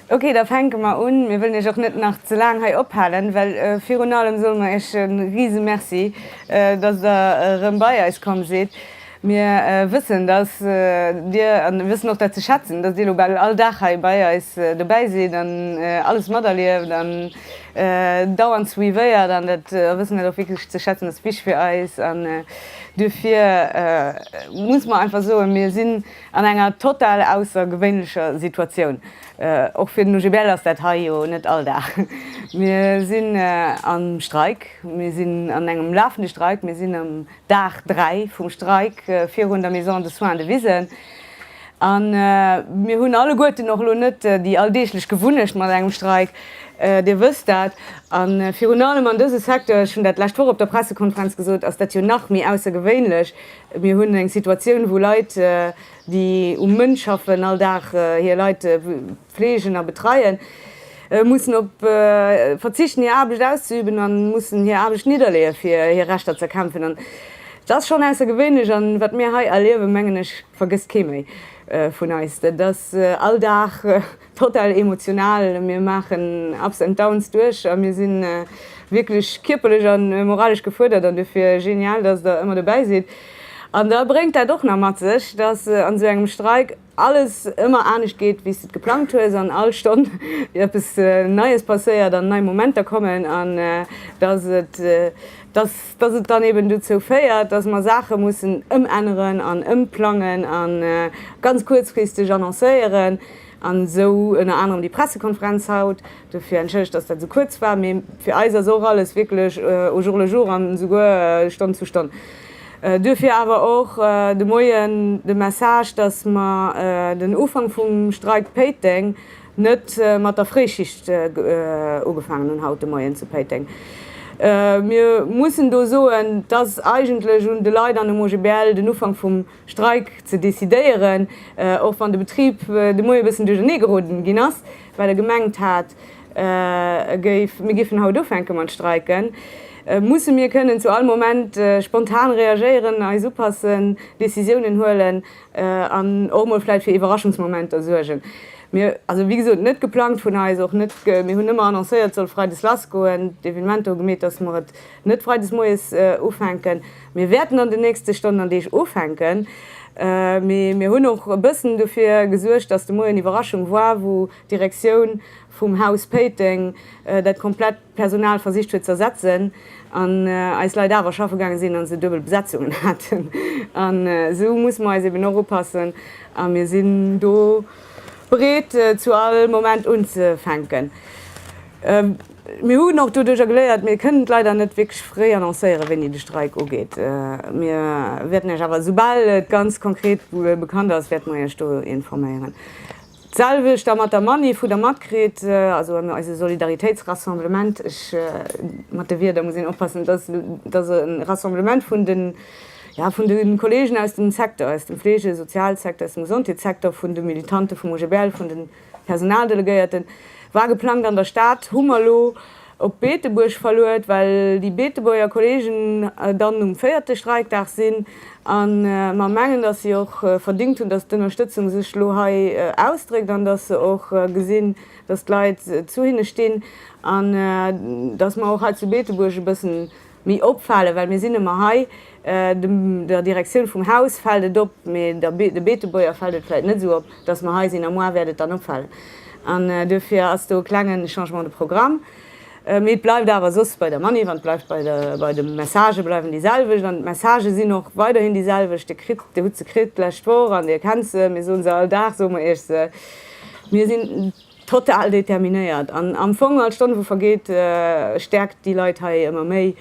Ok, da fänke mer un. Mir wëllen Iech och net nach ze laang hei ophalen, well virun allem solle mer Iech e Risemerci, dass Der erëm bei eis komm sidd, Mir wëssen, dass Dir, an mir wëssen och dat ze schätzen, dass Dir elo bal all Dag hei bei eis dobäi sidd an alles materlieft an dauernd suivéiert an dat, a wëssen dat och wierklech ze schätzen. Dat ass wichtig fir eis an duerfir muss mer einfach soen, mir sinn an enger total aussergewéinlecher Situatioun. Och fir den OGBL ass dat hei jo net all Dag. Mir sinn am Streik, mir sinn an engem lafende Streik, mir sinn am. Dag 3 vum Streik virun der Maison de Soins de Wisen, a mir hunn alleguerten och elo net déi alldeeglech Gewunnecht mat engem Streik, Dir wësst dat. A virun allem an dëse Secteur, ech hunn dat d'lescht Woch op der Pressekonferenz gesot, ass dat jo nach méi aussergewéinlech. Mir hunn eng Situatioun, wou Leit, déi um Mënn schaffen, all Dag hir Leit, Fleegen a betreien, mussen op verzichten hir Aarbecht auszeüben a mussen hir Aarbecht nidderleeë fir hir Rechter z'erkämpfen. An et ass schonn aussergewéinlech a wat mir hei erliewen, mengen ech, vergësst kee méi vun eis. Dat ass all Dag total emotional, mir maachen Ups and Downs duerch a mir si wierklech kierperlech a moralesch gefuerdert. An dofir genial, datt Der ëmmer dobäi sidd. An da bréngt dat och nach mat sech, datt an esou engem Streik, alles ëmmer anescht geet wéi s de et geplangt hues an all Stonn eppes Neies passéiert an nei Momenter kommen an dass et dass dass et dann eben dozou féiert, dass mer Saache mussen ëmänneren an ëmplangen a ganz kuerzfristeg annoncéieren an esou ënner anerem déi Pressekonferenz haut. Dofir entschëllegt, dass dat esou kuerz war, mee fir eis ass och alles wierklech au jour le jour an esouguer Stonn zu Stonn. Duerfir awer och de Moien de Message, dass mer den Ufank vum Streik Péiteng net mat der Fréischicht ugefaangen hunn haut de Moien zu Péiteng. Mir mussen do soen, et ass eigentlech un de Leit an um OGBL den Ufank vum Streik ze decidéieren, och wann de Betrib de Moie bëssen duerchernee geroden ginn ass, well e gemengt hat, mir géifen haut ufänke mat streiken, musse mir kënnen zu all Moment spontan reagéieren, eis upassen, Decisiounen huelen an och emol vläicht fir Iwwerraschungsmomenter suergen. Mir, also wéi gesot, net geplangt vun eis, och net, mir hunn ëmmer annoncéiert, et soll freides lassgoen, d'Evenementer hu gemeet, dass mer et net freides moies ufänken. Mir wäerten an den nächste Stonnen an Deeg ufänken, mee mir hunn och e bëssen dofir gesuergt, dass de Moien Iwwerraschung war, wou, D'Direktioun vum Haus Péiteng dat komplett Personal versicht huet ze ersetzen an eis Leit awer schaffe gaange sinn a se duebel Besetzungen haten. An esou musse mer eis eben och upassen a mir sinn do bereet zu all Moment unzefänken. Mir hunn och doduercher geléiert, mir kënnen d'Leit net wierklech fréi annoncéieren, wéini de Streik ugeet. Mir wäerten Iech awer, esoubal et ganz konkret bekannt ass, wäerte mer Iech do informéieren. D'selwecht da mat der Manif hu der matkritt, also eise Solidaritéitsrassemblement. Mat de Wierder muss een oppassen, et ass e Rassemblement vun de, jo, vun de Kolleegen aus dem Secteur, aus dem Fleege-, Sozialsecteur, aus dem Gesondheetssecteur, vun de Militante vum OGBL, vun de Personaldelegéierten, war geplangt an der Stad, hu mer elo, op Beetebuerg verluet, well déi Beetebuerger Kolleegen dann um véierte Streikdag sinn a mer mengen, datt si och verdéngt hunn, datt d'Ënnerstëtzung sech elo hei ausdréckt an datt se och gesinn, datt d'Leit zu hinne stinn an datt mer och hei zu Beetebuerg e bëssen Méi opfalen, well mir sinn ëmmer hei. Der Direktioun vum Haus fält et op, mee de Beetebuerger fält et vläicht net esou op, dass mer hei sinn. A moi wäert et dann opfalen. An duerfir ass do e klenge Changement de programme. Mee et bleift awer soss bei der Manif an et bleift bei de Messagë bleiwen déi selwecht. An d'Messagë sinn och weiderhin déi selwecht. Dir kritt, Dir hutt se kritt d'lescht Woch an Dir kennt se. Mir soe se all Dag, soe mer Iech se. Mir sinn. Total determinéiert an am Fong all Stonn wou vergeet stäerkt déi Leit hei ëmmer méi.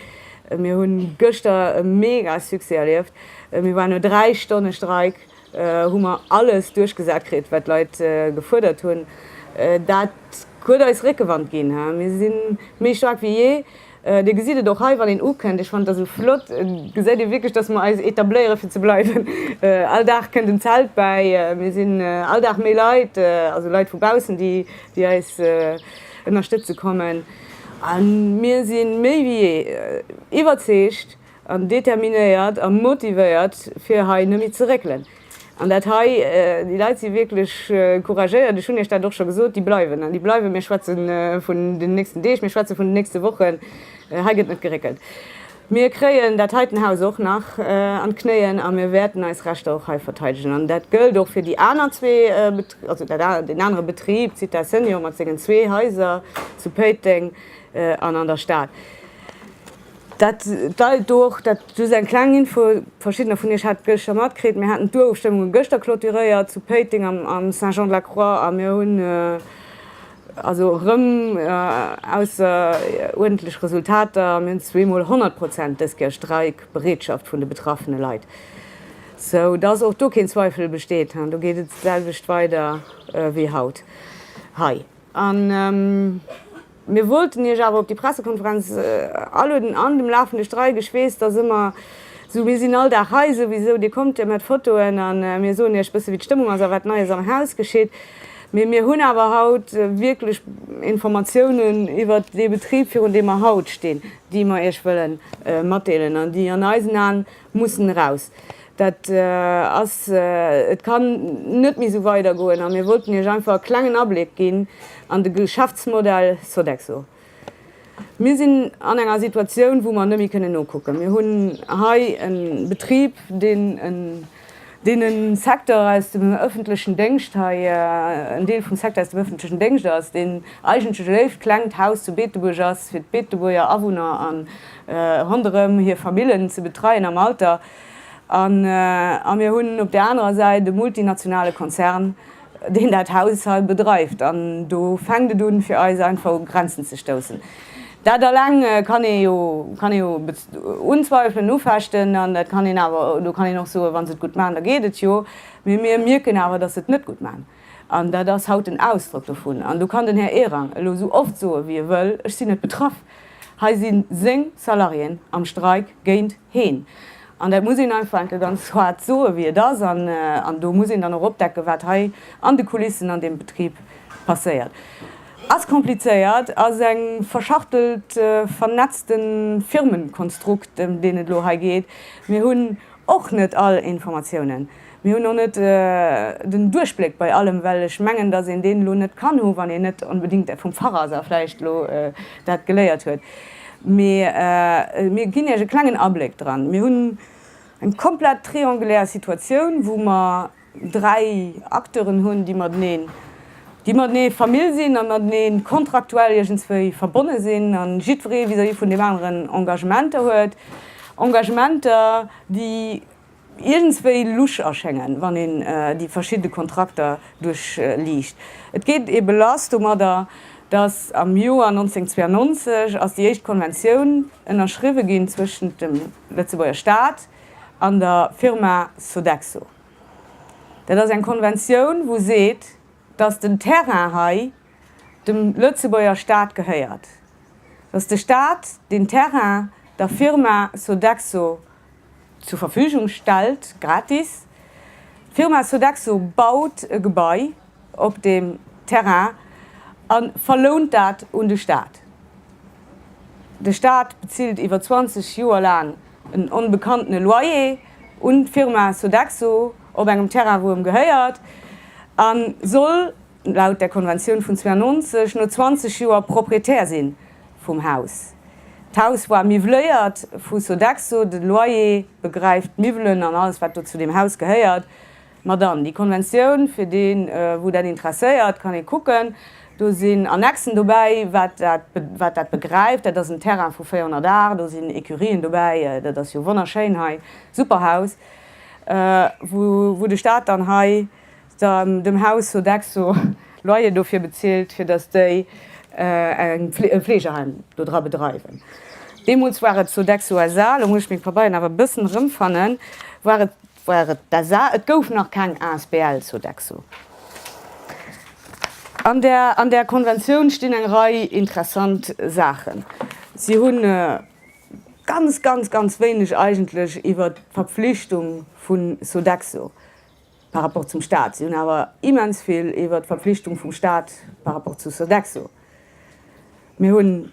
Mir hunn gëschter e mega Succès erlieft. Mir waren no 3 Stonne Streik hu mer alles duerchgesat kritt wat d'Leit gefuerdert hunn. Dat huet eis Réckewand ginn. Mir si méi staark wéi jee. Dir gesitt et och hei, wann een ukënnt, ech fannen dat esou flott, gesäit ee wierklech, dass mer eis etabléiere fir ze bleiwen. All Dag kënnt en Zelt bäi, mir sinn all Dag méi Leit, also Leit vu baussen, déi eis ënnerstëtze kommen. A mir si méi wéi jee iwwerzeegt, an determinéiert a motivéiert fir hei nemme ze réckelen an dat hei, déi Leit si wierklech couragéiert, ech hunn Iech dat och scho gesot, déi bleiwen an déi bleiwen. Mir schwätze vun den nächsten Deeg, mir schwätze vun den nächste Wochen, hei gëtt net geréckelt. Mir kréien dat heiten Haus och nach an d'Knéien a mir wäerten eis Rechter och hei verteidegen an dat gëllt och fir déi aner zwee, also deen anere Betrib, d'Zitha Senior mat sengen zwee Haiser zu Péiteng an an der Stad. Dat deit do och, dat just eng kleng Info, verschiddener vun iech hat gëschter matkritt, mir haten d'Urofstëmmungen gëschter clôturéiert zu Péiteng am am Saint Jean de la Croix a mir hunn also erëm ausseruerdentlech Resultater, mir hunn zwee mol 100 Prozent dëst Joer Streikbereetschaft vun de betraffene Leit, sou dass och do keen Zweifel besteet, do geet et d'selwecht weider wéi haut hei. Mir wollten Iech awer op déi Pressekonferenz aluden an dem lafende Streik, ech weess, dass ëmmer esou, mir sinn all Dag hei souwisou, Dir kommt jo mat Fotoen a mir soen Iech bësse wéi d'Stëmmung ass a wat Neies am Haus geschitt. Mee mir hunn awer haut wierklech Informatiounen iwwert dee Betrib, virun deem mer haut stinn, déi mer Iech wëlle matdeelen an déi an eisen Aen mussen eraus, dat ass, et kann net méi esou weidergoen a mir wollten Iech einfach e klengen Abléck ginn an de Geschäftsmodell Sodexo. Mir sinn an enger Situatioun, wou mer net méi kënnen nokucken. Mir hunn hei e Betrib, deen e Secteur aus dem ëffentlechen Déngscht hei, en Deel vum Secteur aus dem ëffentlechen Déngscht ass, deen eigentlech e léift klengt Haus zu Beetebuerg ass fir d'Beetebuerger Awunner. ronderëm hir Famillen ze betreien am Alter, a mir hunn op där anerer Säit e multinationale Konzern, deen dat Haus hei bedreift. An do fänkt et un, fir eis einfach u Grenzen ze stoussen. Dat eleng kann ee jo unzweifelen, ufechten, an dat kann een awer, do kann een och soen, wa se et gutt maachen, da geet et jo, mee mir mierken awer, datt se et net gutt maachen. An dat ass haut den Ausdrock dovun. An do kann den Här Ehrang elo esou oft soe wéi e wëll, ech sinn net betraff. Hei si seng Salariéen am Streik géint heen. An dat muss een einfach enke ganz haart soe wéi et ass. An do muss een dann och opdecken, wat hei an de Kulissen an deem Betrib passéiert. Ass komplizéiert, ass e verschachtelt, vernetzte Firmenkonstrukt, ëm deen et elo hei geet. Mir hunn Och net all Informatiounen. Mir hunn och net den Duerchbléck bei allem, well ech mengen, dass een deen elo net kann hu wann een net onbedingt vum Fach ass a vläicht elo dat geléiert huet. Mee mir ginn Iech e klengen Abléck dran. Mir hunn eng komplett triangulär Situatioun, wou mer dräi Acteuren hunn, déi mateneen, déi matenee Famill sinn a matenee kontraktuell iergendswéi verbonne sinn a jiddweree vis-à-vis vun deem aneren Engagementer huet, Engagementer, déi iergendswéi lusch erschéngen, wann een déi verschidde Kontrakter duerchliicht. Et geet ebe lass domadder, dass am Joer 1992 ass déi éischt Konventioun ënnerschriwwe ginn zwëschent dem Lëtzebuerger Staat, an der Firma Sodexo. Dat ass eng Konventioun, wou seet, dass den Terrain hei dem Lëtzebuerger Staat gehéiert, dass de Staat deen Terrain der Firma Sodexo zur Verfügung stellt, gratis. D'Firma Sodexo baut e Gebai op deem Terrain a verlount dat un de Staat. De Staat bezilt iwwer 20 Joer laang en onbekannten Loyer un d'Firma Sodexo op engem Terrain wou em gehéiert a soll laut der Konventioun vun 92 no 20 Joer Proprietär si vum Haus. D'Haus war miwwléiert vu Sodexo, de Loyer begräift d'Miwwelen an alles wat do zu deem Haus gehéiert. Ma dann, déi Konventioun, fir dee wou dat interesséiert, kann ee kucken, do sinn Annexen dobäi, wat dat wat dat begräift. Dat ass en Terrain vu 400 Ar, do sinn Ecurien dobäi, dat ass jo wonnerschéin hei, super Haus, wou wou de Stat dann hei dann dem Haus Sodexo Loyer dofir bezilt, fir datt déi eng e Fleegeheim do dra bedreiwen. Deemools war et Sodexo SA, lo muss ech meng Pabeieren awer e bëssen erëmfannen, war et war et d'SA, et gouf nach keng Asbl, Sodexo. An där, an där Konventioun stinn eng Rei interessant Saachen. Si hu ganz, ganz, ganz wéineg eigentlech iwwert d'Verpflichtung vu Sodexo par rapport zum Stat. Si hunn awer immens vill iwwert d'Verpflichtung vum Stat par rapport zu Sodexo. Mir hunn.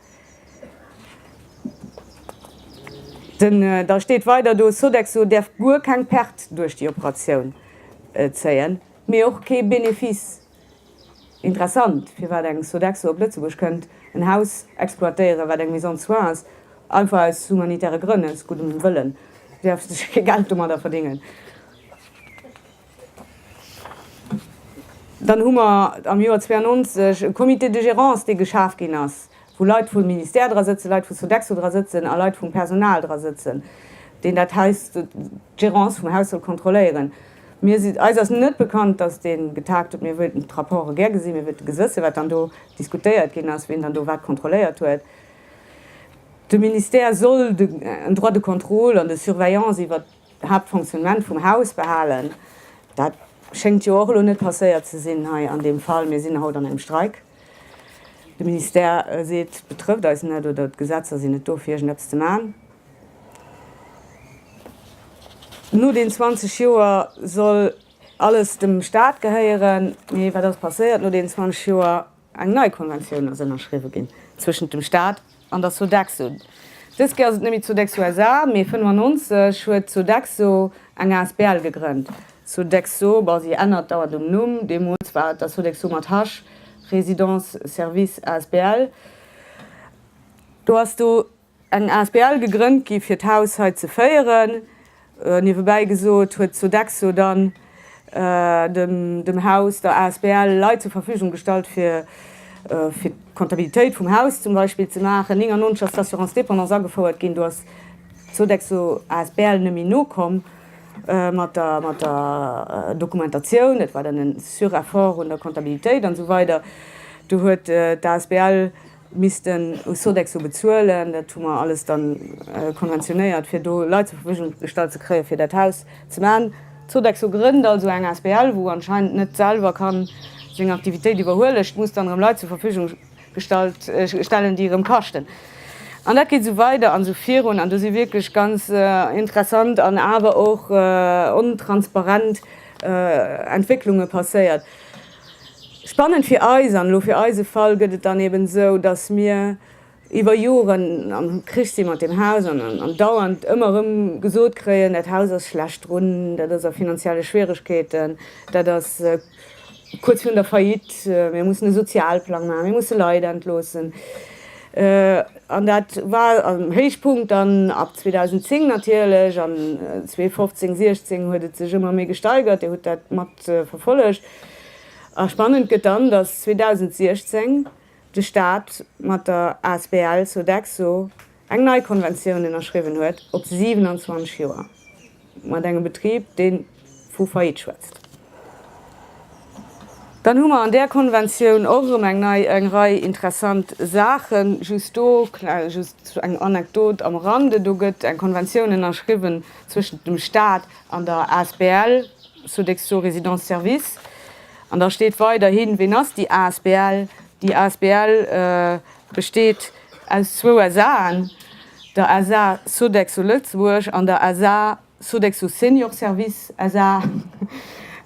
Da steet weider do, Sodexo däerf guer keng Perte duerch déi Operatioun zéien, mee och kee Benefice. Interessant, firwat eng Sodexo op Lëtzebuerg kënnt, en Haus exploitéieren, wat eng Maison de soins ass, einfach aus humanitäre Grënn, aus guddem Wëllen. Si däerf sech kee Geld domadder verdéngen. Dann hu mer am Joer 92 e Comité de gérance, dee geschaf ginn ass, wou Leit vum Ministère dra sëtzen, Leit vu Sodexo dra sëtzen a Leit vum Personal dra sëtzen, deen dat Haus, d'Gérance vum Haus soll kontrolléieren. Mir si, eis ass net bekannt, dass dee getagt huet. Mir wëilten d'Rapporte gär gesinn. Mir wëilten gesëssen, wat dann do diskutéiert ginn ass, wien dann do wat kontrolléiert huet. De Ministère soll en droit de contrôle an de surveillance iwwert Haaptfonctionnement vum Haus behalen. Dat schéngt jo och elo net passéiert ze sinn hei an deem Fall. Mir sinn haut an engem Streik. De Ministère seet, et betrëfft eis net oder d'Gesetzer sinn net do fir iergendeppes ze maachen. No deenen 20 Joer soll alles dem Staat gehéieren. Mee wat ass passéiert no deenen 20 Joer? Eng nei Konventioun ass ënnerschriwwe ginn zwëschent dem Staat an der Sodexo. Dës Kéier ass et net méi Sodexo SA, mee 95 huet d'Sodexo eng asbl gegrënnt. Sodexo, bon, si ännert dauernd um Numm. Deemools war et der Sodexo mat Hasch, Résidences-Services asbl. Do ass do Eng asbl gegrënnt gi fir d'Haus hei ze féieren. Niewebäi gesot huet d'Sodexo dann dem Haus der asbl Leit zur Verfügung gestallt fir fir d'Kontabilitéit vum Haus zum Beispill ze maachen. 99 ass d'Assurance dépendance agefouert ginn, do ass d'Sodexo asbl net méi nokomm mat der mat der Dokumentatioun, et war dann en Sureffort un der Kontabilitéit an esou weider. Du huet d'asbl missten u Sodexo bezuelen. Dat hu mer alles da konventionéiert, fir do Leit zur Verfügung gestallt ze kréien, fir dat Haus ze maachen. Sodexo grënnt also eng asbl, wou anscheinend net selwer ka seng Aktivitéit iwwerhuelen. Ech muss dann erëm Leit zur Verfügung gestallt stellen, déi erëm kaschten. An dat geet esou weider an esou virun. An do si wierklech ganz interessant an awer och ontransparent Entwécklunge passéiert. Spannend fir eis, an elo fir eise Fall, gëtt et dann eben esou, dass mir iwwer Joren am Krich si mat deem Haus an dauernd ëmmer erëm gesot kréien, dat Haus ass schlecht drun, dat ass a finanzielle Schwieregkeeten, dat ass kuerz virun der Faillite, mir mussen e Sozialplang maachen, mir musse Leit entloossen. An dat war am Héichpunkt dann ab 2010 natierlech, an 2015, 2016 huet et sech ëmmer méi gesteigert, Dir hutt dat mat verfollegt a spannend gëtt dann, datt 2016 de Staat mat der asbl Sodexo eng nei Konventioun ënnerschriwwen huet op 27 Joer mat engem Betrib, dee vu Faillite schwätzt. Dann hu mer an där Konventioun och erëm eng nei eng Rei interessant Saachen. Just do just eng Anekdot am Rande, Do gëtt eng Konventioun ënnerschriwwen zwëschent dem Staat an der asbl Sodexo zur Résidence service. An da steet weiderhin, Ween ass déi asbl? Déi asbl besteet aus zwou SAen, der SA Sodexo Lëtzebuerg an der SA Sodexo Senior Services SA.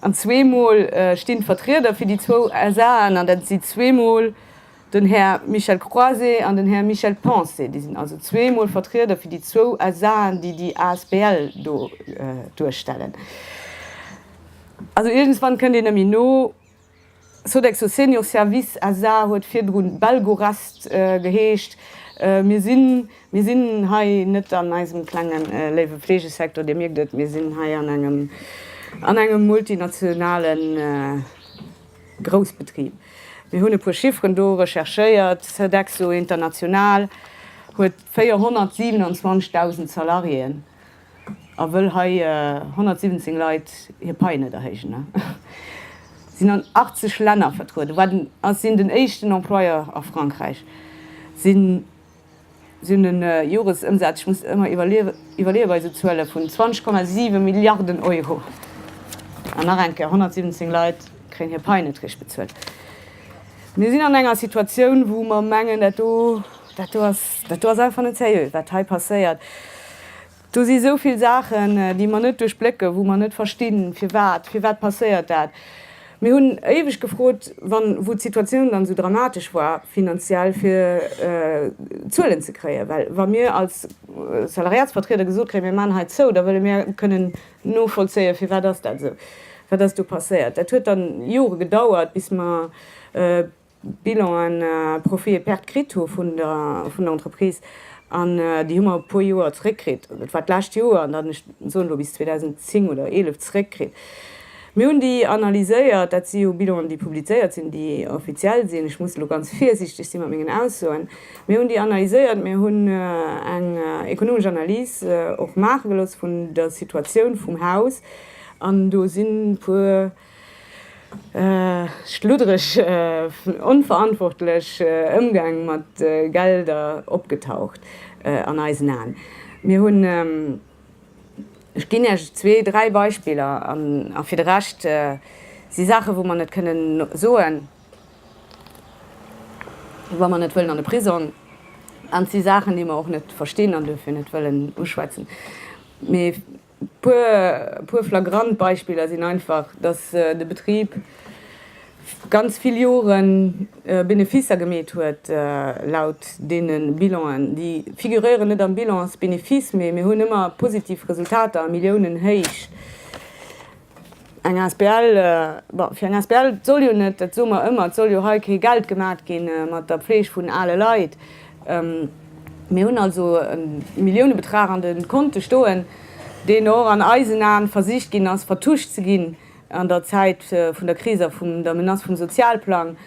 An zweemol stinn d'Vertrieder fir déi zwou SAen an dat si zweemol. Den Här Michel Croise an den Här Michel Pensée, déi sinn also zwee Mol Vertrieder fir déi zwou SAen, déi déi asbl do duerstellen. Also iergendwann kënnt een nëmme no. Sodexo Senior Services SA. huet virdru Belgorest geheescht. Mir sinn, mir sinn hei net an eisem klenge léiwe Fleegesecteur, Dir mierkt et, mir sinn hei an engem, an engem multinationalen. Groussbetrib. Mir hunn e puer Chifferen do recherchéiert. Sodexo International huet 427.000 Salariéen a wëll hei 117 Leit hir Paie net erhéijen. Si sinn an 80 Länner vertrueden, sinn den éischten Employeur a Frankräich, sinn. Sou en Joresëmsaz, ech muss ëmmer iwwerleeë bei esou Zuele vun 20,7 Milliarden Euro, an nach eng Kéier, 117 Leit kréien hir Pai net richt bezuelt. Mir sinn an enger Situatioun, wou mer mengen, dat do, dat do ass, dat do ass einfach net seriö, wat hei passéiert. Do si sou vill Saachen, déi mer net duerchblécken, wou mer net verstinn, firwat, firwat passéiert dat. Mir hunn éiweg gefrot, wann, wou d'Situatioun dann esou dramatesch war finanziell, fir Zuelen ze kréien, well wa mir als Salariatsvertrieder gesot kréien, mir maachen hei zou, da wëlle mir kënnen novollzéien, firwat ass dat esou, wat ass do passéiert. Dat huet dann Jore gedauert, bis mer Bilanen, Profit e Perte kritt hu vun der Entreprise an déi hu mer e puer Joer zréckkritt. Dat war d'lescht Joer an dann, ech soen elo bis 2010 oder 11, zréckkritt. Mir hunn déi analyséiert. Dat si jo Bilanen, déi publizéiert sinn, déi offiziell sinn. Ech muss elo ganz virsiichteg si mat mengen Aussoen. Mir hunn déi analyséiert. Mir hunn eng ekonomesch Analys och maache gelooss vun der Situatioun vum Haus an do sinn e puer. Schluddereg vun onverantwortlech Ëmgäng mat Gelder opgetaucht an eisen Aen. Mir hunn, ech ginn Iech zwee, dräi Beispiller, a fir de Rescht si Saache wou mer net kënnen soen, wa mer net wëllen an de Prisong, an et si Saachen déi mer och net verstinn an duerfir net wëllen uschwätzen. Puer flagrant Beispiller sinn einfach, dass de Betrib ganz vill Jore Beneficer gemeet huet, laut deene Bilanen, déi figuréieren net am Bilan als Benefice, mee mir hunn ëmmer positiv Resultater, Milliounenhéich. Eng asbl, bon, fir eng asbl soll jo net, dat soe mer ëmmer, et soll jo hei kee Geld gemaat gi mat der Pfleeg vun ale Leit. Mir hunn also e Milliounebetrag an de Konte stoen, deen och an eisen Aen versicht ginn ass, vertuscht ze ginn an der Zäit vun der Kris a vun der Menace vum Sozialplang,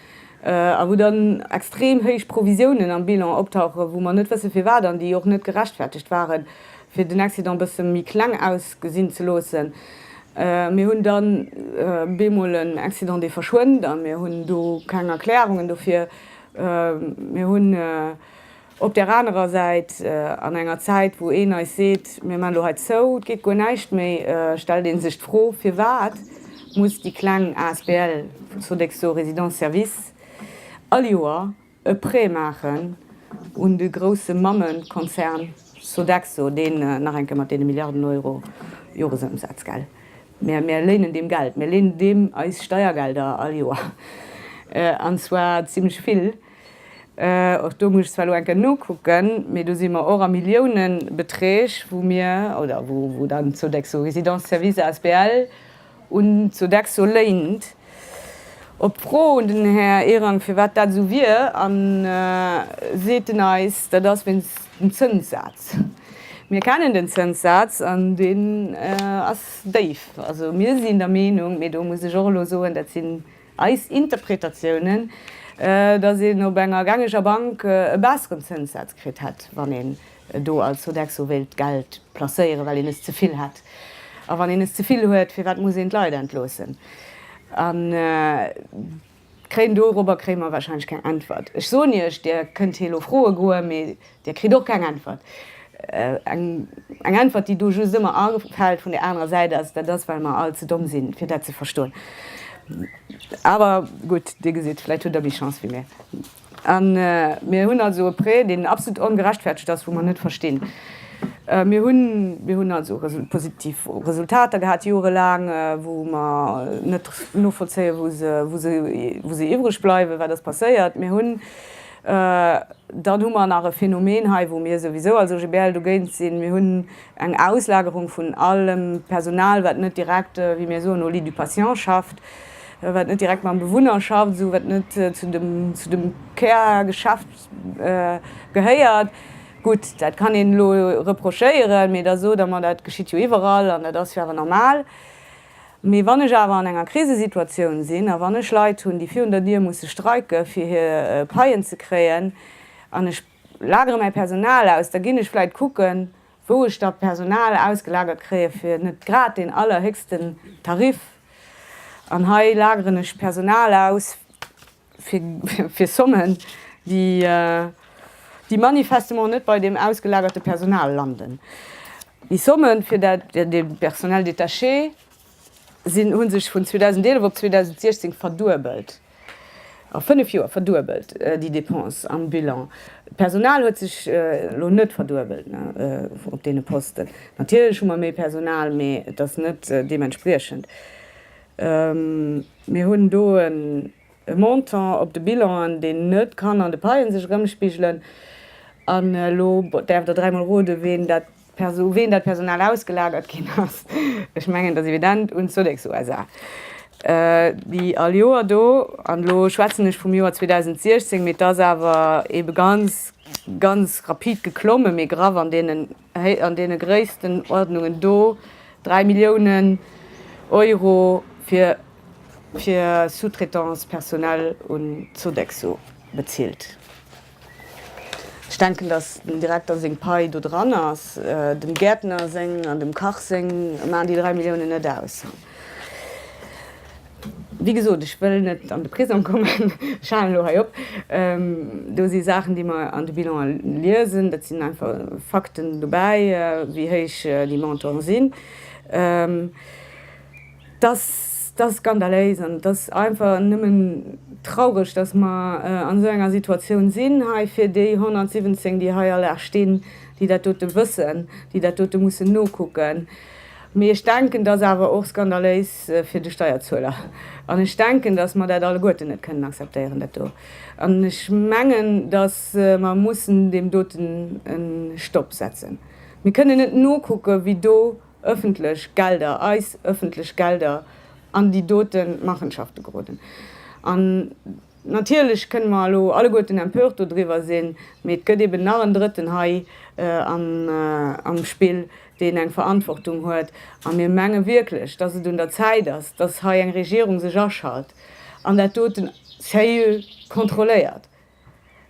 a wou dann extrem héich Provisiounen am Bilan optauchen, wou mer net wësse firwat an déi och net gerechtfertegt waren. fir den Accident bësse méi kleng ausgesinn ze loossen. Mir hunn da bemol en Accident, dee verschwënnt, a mir hunn do keng Erklärungen dofir. Mir hunn op där anerer Säit, an enger Zäit, wou een eis seet, mir maachen elo hei zou, et geet guer näischt méi, stellt ee sech d'Fro, Firwat muss déi kleng asbl vun Sodexo Résidences-Services all Joer e Prêt maachen un de grousse Mammekonzern Sodexo, deen nach eng Kéier mat deene Milliarden Euro Joresëmsaz, gell, mir, mir léinen deem Geld, mir léinen deem eis Steiergelder all Joer, an zwar zimmlech vill, och do muss ech zwar elo eng Kéier nokucken, mee do si mer och a Milliounebeträg, wou mir, oder wou dann d'Sodexo Résidences-Services asbl. Un Sodexo léint op d'Fro un den Här Ehrang, firwat dat esou wier, a seet en eis, dat ass wéinst dem Zënssaz. Mir kennen den Zënssaz an deen ass déif. Also mir sinn der Meenung, mee do muss ech och elo soen, dat sinn Eis Interpretatiounen, dass een op enger gängeger Bank e besseren Zënssaz kritt hätt, wann een do als Sodexo wéilt d'Geld placéieren, well een es ze vill hätt. A wann een es ze vill huet, firwat muss een d'Leit entloossen? A kréien dorobber kréie mer warscheinlech keng Äntwert. Ech soen Iech, Dir kënnt hie lo froe goe, mee Dir kritt och keng Äntwert. Eng Äntwert, déi do just ëmmer afält vun där anerer Säit, ass, Dat ass, well mer all ze domm sinn, fir dat ze verstoen. Awer gutt, Dir gesitt, vläicht hutt Der méi Chance wéi mir. A mir hunn also e Prêt, deen absolut ongerechtfertegt ass, wou mer net verstinn. Mir hunn also positiv Resultater gehat joerelaang, wou mer net novollzéien, wou se iwwreg bleiwen, wat ass passéiert. Mir hunn. Dann hu mer nach e Phänomen hei, wou mir souwisou als OGBL dogéint sinn, Mir hunn eng Auslagerung vun allem Personal, wat net direkt, wéi mir soen, au lit du patient schafft, wat net direkt mam Bewunner schafft, esou wat net zu dem Kärgeschäft gehéiert. Gutt, dat kann een elo reprochéieren, mee da sot Der mer, dat geschitt jo iwwerall an dat ass jo awer normal. Mee wann ech awer an enger Krisesituatioun sinn a wann ech Leit hunn, déi virun der Dier musse streike fir hir Paien ze kréien, an ech lagere mäi Personal aus, da ginn ech vläit kucken, wou ech da Personal ausgelagert kréie fir net grad deen allerhéchsten Tarif. An hei lageren ech Personal aus. fir Sommen, déi manifestement net bei deem ausgelagerte Personal landen. Déi Sommen fir de Personnel détaché hu sech vun 2011 op 2016 verduebelt, a fënnef Joer verduebelt déi Dépense am Bilan. D'Personal huet sech elo net verduebelt op deene Posten. Natierlech hu mer méi Personal, mee et ass net deementspriechend. Mir hunn do e Montant op de Bilanen, deen net kann an de Paien sech erëmspigelen. An elo däerft Der dräimol roden, ween dat, u ween dat Personal ausgelagert ginn ass. Ech mengen, et ass evident, un d'Sodexo SA. Déi all Joer do, an elo schwätzen ech vum Joer 2016, mee et ass awer ebe ganz, ganz rapid geklomme, méi graff an deenen, Hei an deene Gréisstenordnungen do, 3 Milliounen Euro fir fir Sous-traitance personnelle un d'Sodexo bezilt. Ech denken, datt dem Direkter seng Pai do dran ass, dem Gäertner seng an dem Kach seng maachen déi 3 Milliounen net aus. Wéi gesot, ech wëll net an de Prisong kommen, ech halen elo hei op. Do si Saachen, déi mer an de Bilanen liesen, dat sinn einfach Fakten dobäi, wéi héich déi Montanten sinn. Et ass skandaléis an et ass einfach nëmmen traureg, dass mer an esou enger Situatioun sinn hei fir déi 117, déi hei all Dag stinn, déi dat dote wëssen, déi dat dote mussen nokucken. Mee ech denken, et ass awer och skandaléis, fir de Steierzueler. An ech denken, datt mer dat alleguerten net kënnen akzeptéieren, dat do. An ech mengen, datt mer mussen deem doten e Stopp setzen. Mir kënnen net nokucken, wéi do öffentlech Gelder, eis öffentlech Gelder an déi dote Machenschafte geroden. Natierlech kënne mer elo alleguerten empört dodriwwer sinn, mee et gëtt eben nach en Drëtten hei am Spill, deen eng Verantwortung huet. A mir menge wierklech, dass et un der Zäit ass, dass hei eng Regierung sech aschalt an dat doten seriö kontrolléiert.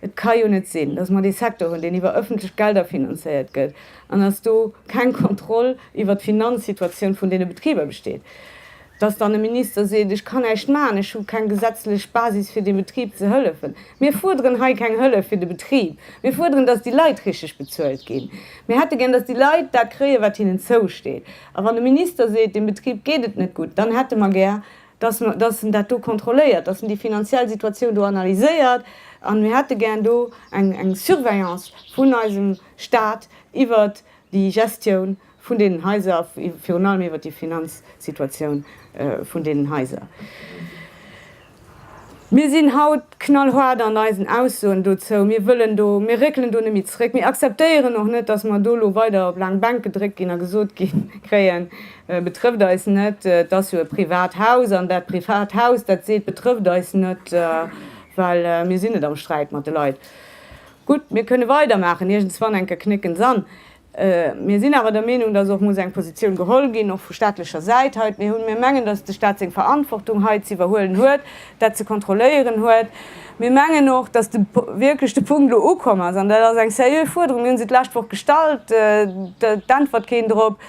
Et ka jo net sinn, dass mer dee Secteur hunn, deen iwwer öffentlech Gelder finanzéiert gëtt an dass do keng Kontroll iwwert d'Finanzsituatioun vun deene Betriber besteet. Dass dann e Minister seet, ech kann näischt maachen, ech hu keng gesetzlech Basis fir deem Betrib ze hëllefen. Mir fuerderen hei keng Hëllef fir de Betrib. Mir fuerderen, dass déi Leit richteg bezuelt ginn. Mir hätte gär, dass déi Leit dat kréien, wat hinnen zousteet. A wann e Minister seet, deem Betrib geet et net gutt, dann hätte mer gär, dass mer, dass en dat do kontrolléiert, dass en déi finanziell Situatioun do analyséiert. A mir hätte gär do eng, eng Surveillance vun eisem Stat iwwert déi Gestioun Vun deenen Haiser a virun allem iwwert déi Finanzsituatioun vun deenen Haiser. Mir sinn haut knallhart an eisen Aussoen dozou. Mir wëllen do, mir réckelen do net méi zréck. Mir akzeptéieren och net, dass mer do elo weider op laang Bänk gedréckt ginn a gesot gi kréien, Betrëfft eis net, et ass jo e privat Haus an dat privat Haus, dat seet, Betrëfft eis net, well mir sinn net am Sträit mat de Leit. Gutt, mir kënne weidermaachen, iergendswann enker knécken s'an. Mir sinn awer der Meenung, dass och muss eng Positioun geholl ginn, och vu staatlecher Säit hei. Mir hunn, mir mengen, dass de Stat seng Verantwortung hei ze iwwerhuelen huet, dat ze kontrolléieren huet. Mir mengen och, dass de wierklech de Punkt elo ukomm ass, an dat ass eng sérieux Fuerderung, mir hu se d'lescht Woch gestallt, et äntwert keen drop,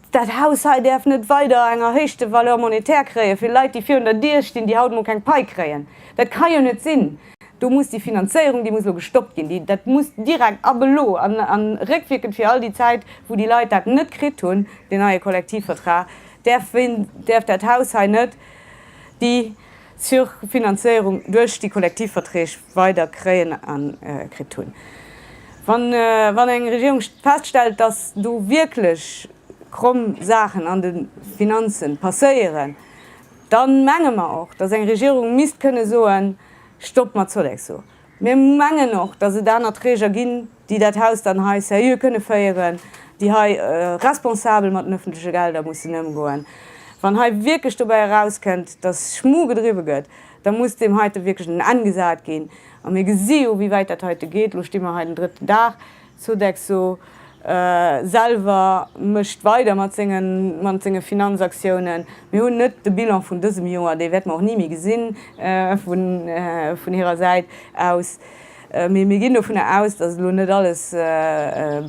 Dat Haus hei däerf net weider eng erhéichte Valeur monétaire kréien, fir Leit, déi virun der Dier stinn, déi haut mol keng Pai kréien. Dat ka jo net sinn! Do muss déi Finanzéierung, déi muss elo gestoppt ginn. Déi, dat muss direkt ab elo an réckwierkend fir all déi Zäit, wou déi Leit dat net kritt hunn, deen neie Kollektivvertrag, däerf däerf dat Haus hei net déi, Zur Finanzéierung duerch déi kollektiv Verträg weider kréien a kritt hunn. Wann eng Regierung feststellt, dass do wierklech kromm Saachen an de Finanze passéieren, da menge mer och, dass eng Regierung misst kënne soen, Stopp mat Sodexo! Mir mengen och, dass et aner Träger ginn, déi dat Haus dann hei seriö kënne féieren, déi hei responsabel mat den öffentleche Gelder mussen ëmgoen. Wann hei wierklech dobäi erauskënnt, dass Schmu gedriwwe gëtt, da muss deem heite wierklech en Enn gesat ginn. A mir gesi jo, wéi wäit dat heite geet. Elo sti mer hei den drëtten Dag. Sodexo selwer mécht weider mat senge Finanzaktiounen. Mir hunn net de Bilan vun dësem Joer, dee wäerte mer och ni méi gesinn vun hirer Säit aus, mee mir ginn dovun aus, datt elo net alles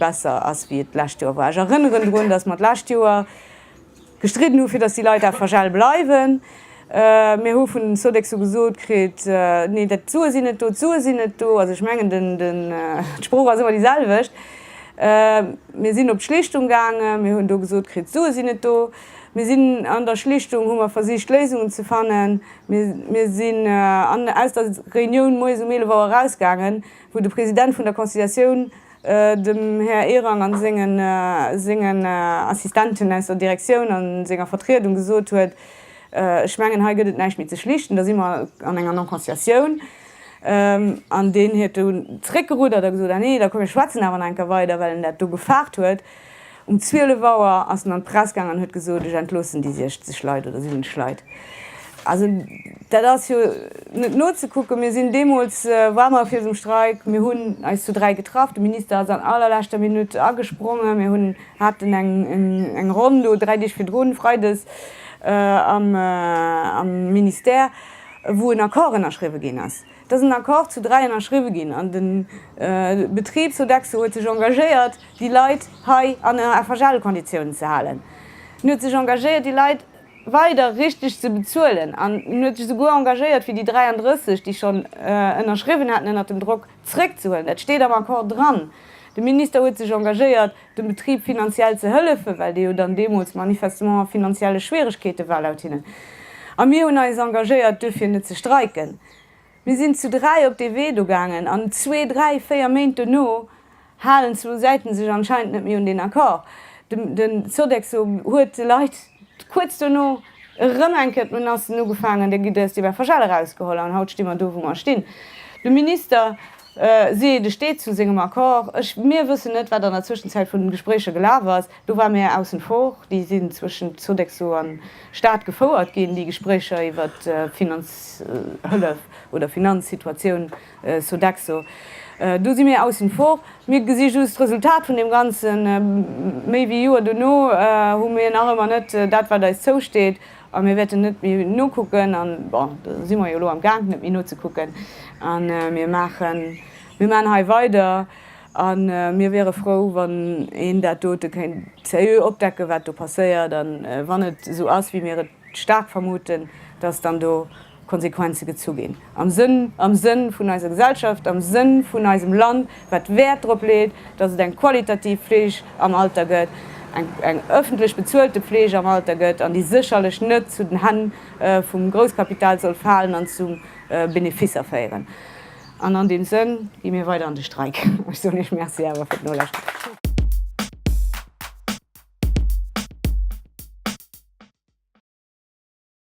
besser ass wéi et d'lescht Joer war. Ech erënneren drun, datt mer d'lescht Joer, Gestridden hu fir datt déi Leit FHL bleiwen. Mir hu vun den Sodexo gesot kritt, nee dat d'Sue sinn net do, d'Sue sinn net do. Also ech mengen d'Sprooch ass ëmmer déi selwecht. Mir sinn op d'Schlichtung gaange, mir hunn do gesot kritt, d'Sue sinn net do. Mir sinn an der Schlichtung hu mer versicht Léisungen ze fannen. Mir sinn aus der Reunioun moies um 11 Auer erausgaangen, wou de President vun der Conciliatioun Dem Här Ehrang a sengen Assistenten aus der Direktioun a senger Vertriedung gesot huet, Ech mengen, hei gëtt et näischt méi ze schlichten, da si mer an enger Non-Conciliatioun. An deen huet dunn zréckgerudert a gesot, Ah nee, da komm mir schwätzen awer nach eng Kéier weider, well en dat do gefaart huet. Um 12 Auer ass en an d'Press gaang an huet gesot, ech entloossen déi 60 Leit oder 70 Leit. Also dat ass jo net nozekucken. Mir sinn deemools, war mer fir esou Streik, mir hunn eis zu dräi getraff, de Minister ass an allerleschter Minutt agesprongen, mir hunn, haten eng Ronn do dräi Deeg virdrun, freides am Ministère, wou en Accord ënnerschriwwe ginn ass. Et ass en Accord zu dräi ënnerschriwwe ginn an de Betrib Sodexo huet sech engagéiert, déi Leit hei an FHL-Konditiounen ze halen. En huet sech engagéiert, déi Leit weider richteg ze bezuelen an en huet sech esouguer engagéiert, fir déi 33, déi schonn ënnerschriwwen haten ënnert dem Drock, zréckzehuelen. Dat steet am Accord dran. De Minister huet sech engagéiert, dem Betrib finanziell ze hëllefen, well dee jo dann deemools manifestement a finanzielle Schwieregkeete war laut hinnen. A mir hunn eis engagéiert, duerfir net ze streiken. Mir sinn zu dräi op dee Wee do gaangen an zwee, dräi, véier Méint dono halen zwou Säite sech anscheinend net méi un deen Accord. De Sodexo huet de Leit kuerz dono erëm eng Kéier d'Menacen ugefaangen, Dir gitt Äers déi Wäffergel erausgeholl an haut sti mer do, wou mer stinn. De Minister. Si steet zu sengem Accord. Ech, mir wëssen net, wat an der Zwëschenzäit vun den Gespréicher gelaf ass. Do war mär aussen vor. Déi sinn zwëschent Sodexo an Staat gefouert ginn, déi Gespréicher iwwer d'Finanzhëllef oder Finanzsituatioun Sodexo. Do si mir aussen vor. Mir gesi just d'Resultat vun deem Ganzen. Méi wéi Joer dono hu mir nach ëmmer net dat, wat eis zousteet. A mir wäerten net méi nokucken, an, bon, do si mer jo elo amgaangen, net méi nozekucken, a mir maachen, mir maachen hei weider. A mir wiere frou, wann een dat dote kéint seriö opdecken, wat do passéiert. A wann et esou ass, wéi mir et staark vermuten, dass dann do Konsequenze gezu ginn, am Sënn, am Sënn vun eiser Gesellschaft, am Sënn vun eisem Land, wat Wäert drop leet, dass et eng qualitativ Fleeg am Alter gëtt, eng, eng öffentlech bezuelte Fleeg am Alter gëtt, an déi sécherlech net zu den Hänn vum Grousskapital soll falen an zu Beneficer féieren. An an deem Sënn gi mir weider an de Streik. Ech soen Iech Merci awer fir d'Nolauschteren.